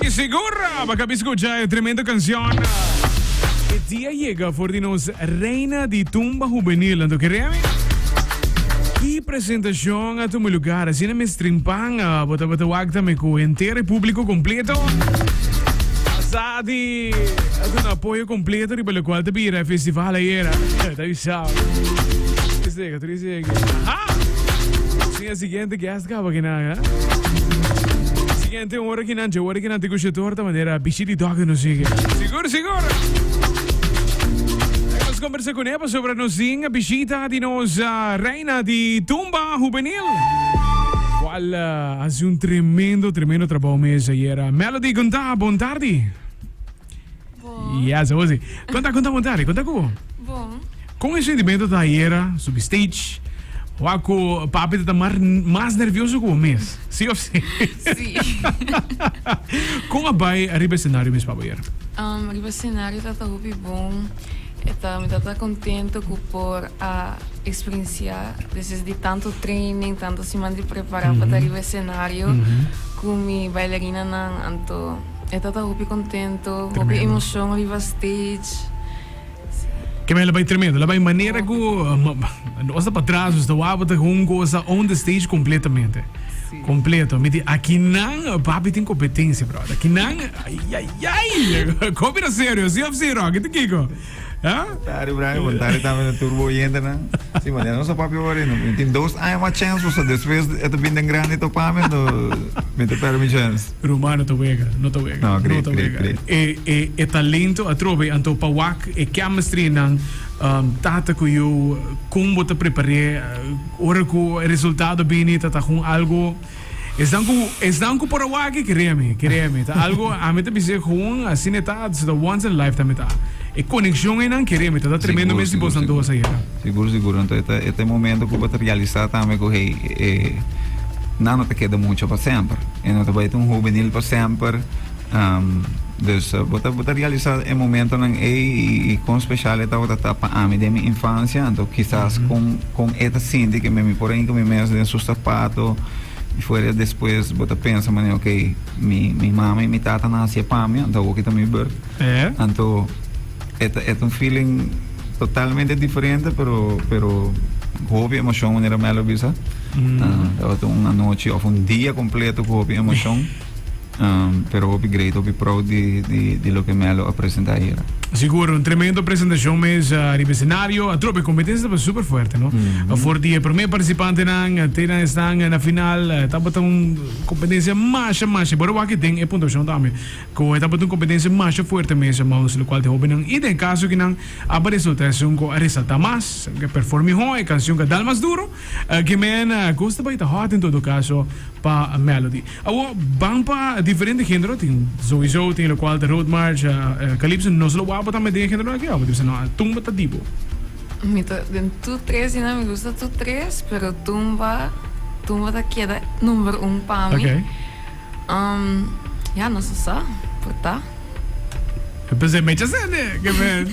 Di sigur bo kab skucha e tremendo kansjon E dia yega for di nos reina di tumba hubenil anto kere mi ki presentashon a tuma lugar asina mes trimpan bo tabata wak ta mi ku henter e publiko kompleto a sa di a duna apoyo kompleto riba lokual ta bira e festival ayera ta bisao. Trece e guest. Ha! Sin e siguiente guest caba que na, ha? Siguiente un hora que nan, hora que nan te cuche torta manera bichi di dog no sigue. Sigur, sigur. Nos conversa con Eva sobre nos ding bichita di nos uh, reina di tumba juvenil. Cual uh, hace un tremendo, tremendo trabajo mes ayer. Melody Gunta, bon tarde. Bon. Ja, Sabosi. Konta, konta bon tarde, konta ku bo? Bon. Kon e sentimento ta ayera subi stage? Wak ku papi ta ta mar, mas nervioso ku bo mes, si of si? Si. Kon a bai ariba e senario mes pa bo ayer? Um, riba e senario ta ta hopi bon. E ta, mi ta ta kontento ku por a eksperensiá despues di tantu training, tantu siman di prepará pa ta riba e senario ku mi bailarinanan anto. E tata hopi contento, hopi emocion riba stage. Ke mei la bai tremendo, la bai manera ku nos ta pa tras, nos ta waba ta un cosa on the stage completamente. Completo. Mi di aki nan papi tin competencia, brother. Aki nan, ay ay ay. Kopi na serio, si of si Rocky, ti Kiko? Ja? Tari Brian, want tari tamen de turbo oyente na. Si, maar ja no sa papi ori, no. Tin dos aña ma chance, so después eto bin den grande to pamen, no. Me te per mi chance. Roma no ta wega, no ta wega. No, kri, kri, kri. E, e, e talento atrobe, anto pa wak e chemistry nan, um, tata ku yu, kon bo ta prepar'é, ora ku e resultado bini ta ta kon algo. Esnan ku esnan ku por a wak e kere mi, e kere mi. Ta algo ami ta bisa gewoon asina e ta, so ta once in a lifetime e ta. E konekshon ei nan kere mi, ta ta tremendo mes si bosan dos a yega. Sigur sigur, anto e ta e ta e momento ku bo ta realisa tambe ku hey e nan no ta keda mucho pa semper, e no ta bai ta un hubenil pa semper. Um, dus uh, bo ta, bo ta realisa e momentonan ei i, i kon special e tabata pa ami den mi infancia, anto kisas mm -hmm. kon, kon e ta sinti ke mi por inka mi mes den su sapato, y fuera después bota pensa mane ok mi mi mama y mi tata na hacia pa mi anto aquí mi bird eh? anto et et un feeling totalmente diferente pero pero hopi emoción manera me lo bisa mm. uh, ah, un noche of un día completo hopi emoción pero hopi great, hopi proud di, di, di loke Melo a presenta ayera. Sigur, un tremendo presentacion mes uh, riba escenario. A trope, competencia taba super fuerte, no? Mm-hmm. Voor die primer participantenan, tenan estan na final, taba ta un competencia masha, masha. Bora waki den e puntuacion tambe. Ko e taba un competencia masha fuerte mes, maus, lo cual te hopi nan. I den caso ki nan aba resulta esun ko a resalta mas, ke perform mihor, e canción ka dal mas duro. Uh, ke men, uh, koos ta bai ta hot en todo caso pa Melody. Awor, ban pa diferente genero tin souiso tin locual ta road march, calypso, no solo guapo tambe den e genero aki awor tin bisa no a tumba ta dibo. Mi ta den tur tres dina mi gusta tur tres pero tumba tumba ta keda number un pa mi okay ya no so sa por ta. P'esei mecha sende, ke men.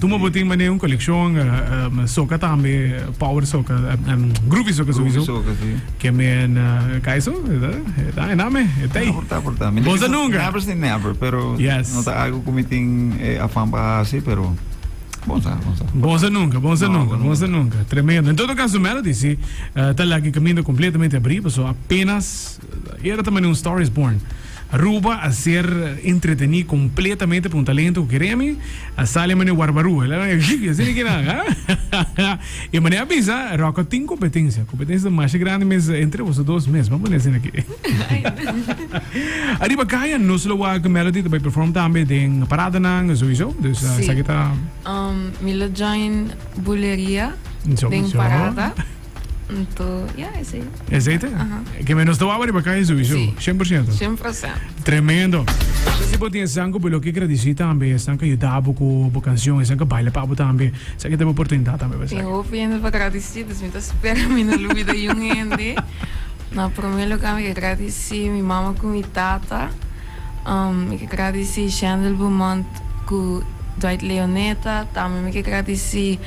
Como bo tin mane un coleccion soca tambe, power soca, groovy soca sowieso. Groovy soca, sí. Que men, ca eso, eta, e name, e tei. Por ta, por ta. Bossa nunca. Never say never, pero yes. no ta algo como tin eh, afán para hacer, pero Bonza, bonza. Bonza nunca, bonza no, nunca, bonza nunca. Tremendo. En todo caso, Melody, sí, uh, ta lagi caminda completamente abri, so apenas Ayer tambe un Star is Born. Aruba a ser entreteni completamente pa un talento cu kere mi. A sali mane Warbarú. El a na ey, y asina kina, ha? y mane a bisa, Rocko tin competencia. Competencia ta masha grandi mes entre boso dos mes. Bo a pone asina aki. Ariba caya nos lo wak Melody ta bay perform tambe den paradanan, sowieso. Dus Sí. esaki ta, Um, mi lo join Bulería, zo, den zo. Parada. Punto. Ya, ese. Ese ite? Ajá. Que me nos tawaba riba calle Zubisu. Sí. 100%. 100%. Tremendo. Si bo tiene sanco, bo lo que agradeci también. Están que ayudabo con bo canción. Están que baila pabo también. Sa que te oportunidad también. Tem hopi gente para agradeci. Dus mi ta spera mi no lo olvida yun gente. Na primer lugar mi ke agradeci mi mama cu mi tata. Um, mi ke agradeci Shandel Beaumont cu Dwight Leoneta. Tambe mi ke agradeci.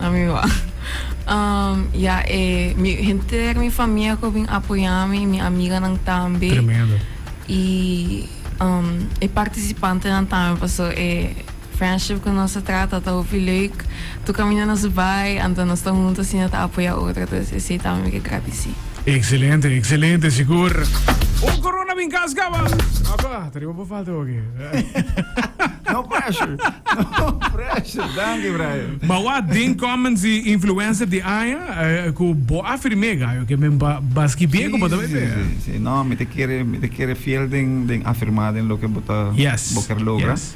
A mi wak. Ya e mi henter, mi famia ku a bin apoyá mi i mi amiganan tambe. Tremendo. I e partisipantenan tambe paso e friendship ku nos ta trata ta hopi leuk. Tur kaminda nos bai anto nos ta huntu asina ta apoyá otro. Entonces esei tambe mi ke gradisí. Excelente, excelente sigur. Un corona bin kas kaba. Aba, ta riba bo. falta hopi. no pressure. No pressure. Danki, Brian. Ma wa den comments di influencer di aña eh, ku bo afirmé gayo ke men ba baski bien ku bo ta bebe. Si, si, si. No, mi te kere, mi te kere fiel den, den afirmá den loke bo ta, Yes, bo ker logra. yes.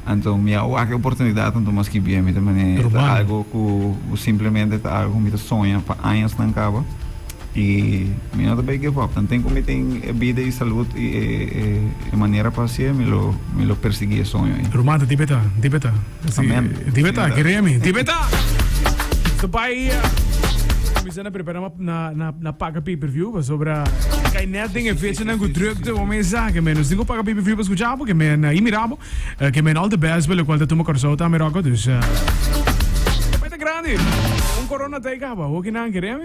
Anto mi a wak e oportunidat, anto maski bien mi ta manera. Ta Ruman. algo ku, ku simplemente ta algo ku mi ta soña pa añasnan kaba. Y mi no ta bay give up. Nan tin cu mi tin e bida y salud y e manera pa haci'e, mi lo mi lo persiguí e soño ey. Romana, dibi ta, dibi ta. Amén. Dibi ta, Señora. kere mi. Dibi ta! So bay, mi sa na prepara na na na na paga pay-per-view pasobra kay net den e fechanan cu drukte bo mesa ke men nos tin cu paga pay-per-view pa scucha bo ke men a imira bo ke men all the best pa locual ta tuma Curaçao ta Amerocco. Dus e bay ta grandi. Un corona ta e caba. Hoki nan kere mi.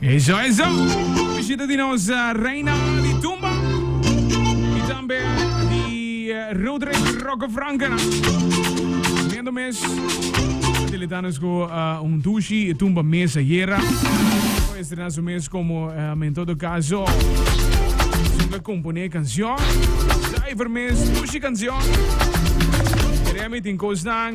Eso eso! Bishita di nos Reina di Tumba y tambe di Roderick Roque Frankenan. Miento mes a deleta nos cu un dushi tumba mes ayera. Por estrena su mes como um en todo caso zunga compone cancion. Zuiver mes dushi cancion. Remy tin cosnan.